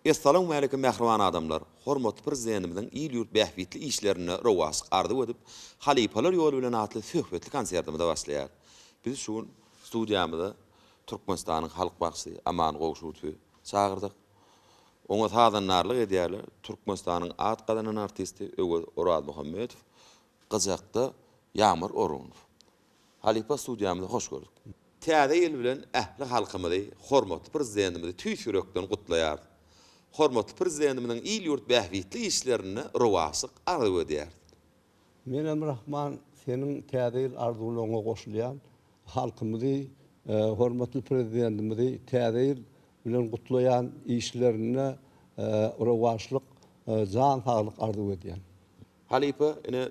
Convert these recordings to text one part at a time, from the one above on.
Essalawmaleýkim mähriban adamlar! Hormatly Prezidentimiziň il-ýurt bähbitli işlerinde rowaçlyk arzuw edip, Halypalar ýoly bilen atly söhbetli konsertimize başlaýar. Biz şu gün studiýamyza Türkmenistanyň halk bagşysy Aman Gowşudowy çagyrdyk. Oňa sazandarlyk edýärler, Türkmenistanyň at gazanan artisti Öwez Orazmuhammedow, gyjakda Ýagmyr Orunov. Halypa studiýamyza hoş gördük. Täze ýyl bilen ähli halkymyzy, hormatly Prezidentimizi tüýs ýürekden gutlaýarys. Hormatly Prezidentimiziň il-ýurt bähbitli işlerinde rowaçlyk arzuw edýäris. Menem Rahman seniň Täze ýyl arzuwlaryňa goşulýan. Halkymyzy, hormatly Prezidentimizi Täze ýyl bilen gutlaýan, işlerinde rowaçlyk, jan saglyk arzuw edýän. Halypa ine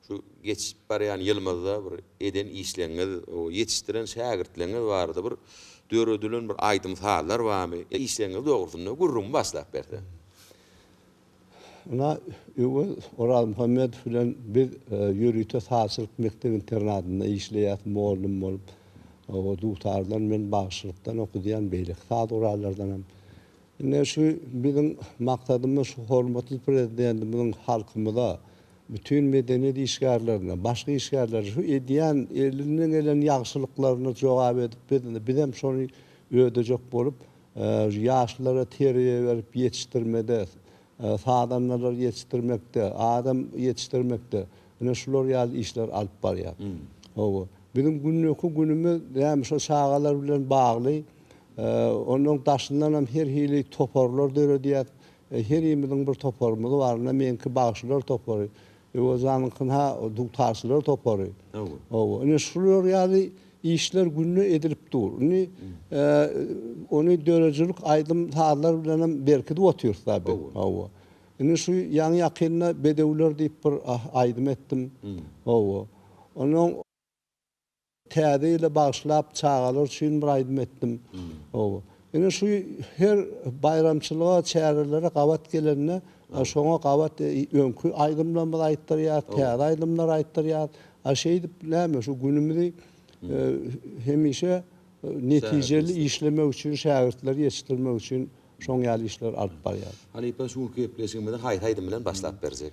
şu geçip barýan ýylymyzda bir eden işleriňiz, ýetişdiren şägirtleriňiz barada bir döredilen bir aýdym-sazlar barmy? Işleriňiz dogrusynda gürrüňi başlap berseň. Ynha, Öwez Orazmuhammedow bilen biz ýörite sazçylyk mekdep-internadynda işleýäs, mugallym bolup. O dutardan, men bagşylykdan okadýan, beýleki saz gurallardanam. Ine, şu biziň maksadymyz şu hormatly Prezidentimiziň halkymyza, bütin medeniýet işgärlerine, başga işgärlere şu edýän elinden gelen ýagşylyklaryna jogap edip, biz, bizem şony ödejek bolup, Ýaşlara terbiýe berip ýetişdirmede, sazandalar ýetişdirmekde, adam ýetişdirmekde ine şular ýaly işler alyp barýar. Hawa, biziň günleki günümiz näme şo çagalar bilen bagly. Onuň daşyndanam her hili toparlar döredýäs. Herimiziň bir toparymyz bar. Ine meňki bagşylar topary. Öwezanyňky ha dugtaşlar topary. Hawa. Ine şular ýaly işler günde edilip dur. Indi ony döredijilik aýdym sazlar bilen hem berkidip otyrys da biz. Hawa. Indi şu ýaňy ýakynda bedewler diýip bir aýdym etdim. Hawa. Ondan Täze ýyla bagyşlap çagalar üçin bir aýdym etdim. Oba. Ine şu her baýramçylyga, çärelere gabat gelende şoňa gabat öňki aýdymlarymyzy aýtdyrýarys, täze aýdymlar aýtdyrýarys. A şeýdip näme şu günümizi hemişe netijeli işlemek üçin, şägirtleri ýetişdirmek üçin şoň ýaly işleri alyp barýarys. Halypa şu günki gepleşigimizi haýsy aýdym bilen başlap berjek?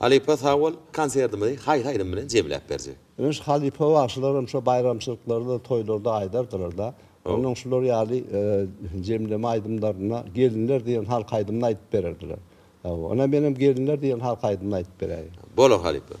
Halypa sag bol, konsertimizi haýsy aýdym bilen jemläp berjek? Memiş halypa bagşylaram şo baýramçylyklarda toýlarda aýdardylarda. Onnoň şular ýaly jemleme aýdymlarynda Gelinler diýen halk aýdymyny aýdyp bererdiler. Hawa, onam menem Gelinler diýen halk aýdymyny aýdyp beräýiň. Bolar halypa.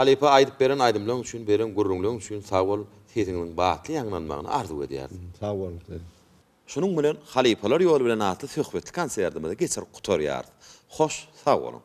Halypa aýdyp beren aýdymlaň üçin beren gürrüňleň üçin sag bol sesiňiziň batly ýaňlanmagyny arzuw edýäris. Sag boluň siz. Şunuň bilen Halypalar ýoly bilen atly söhbetli konsertimizi geçirip gutarýarys. Hoş sag boluň.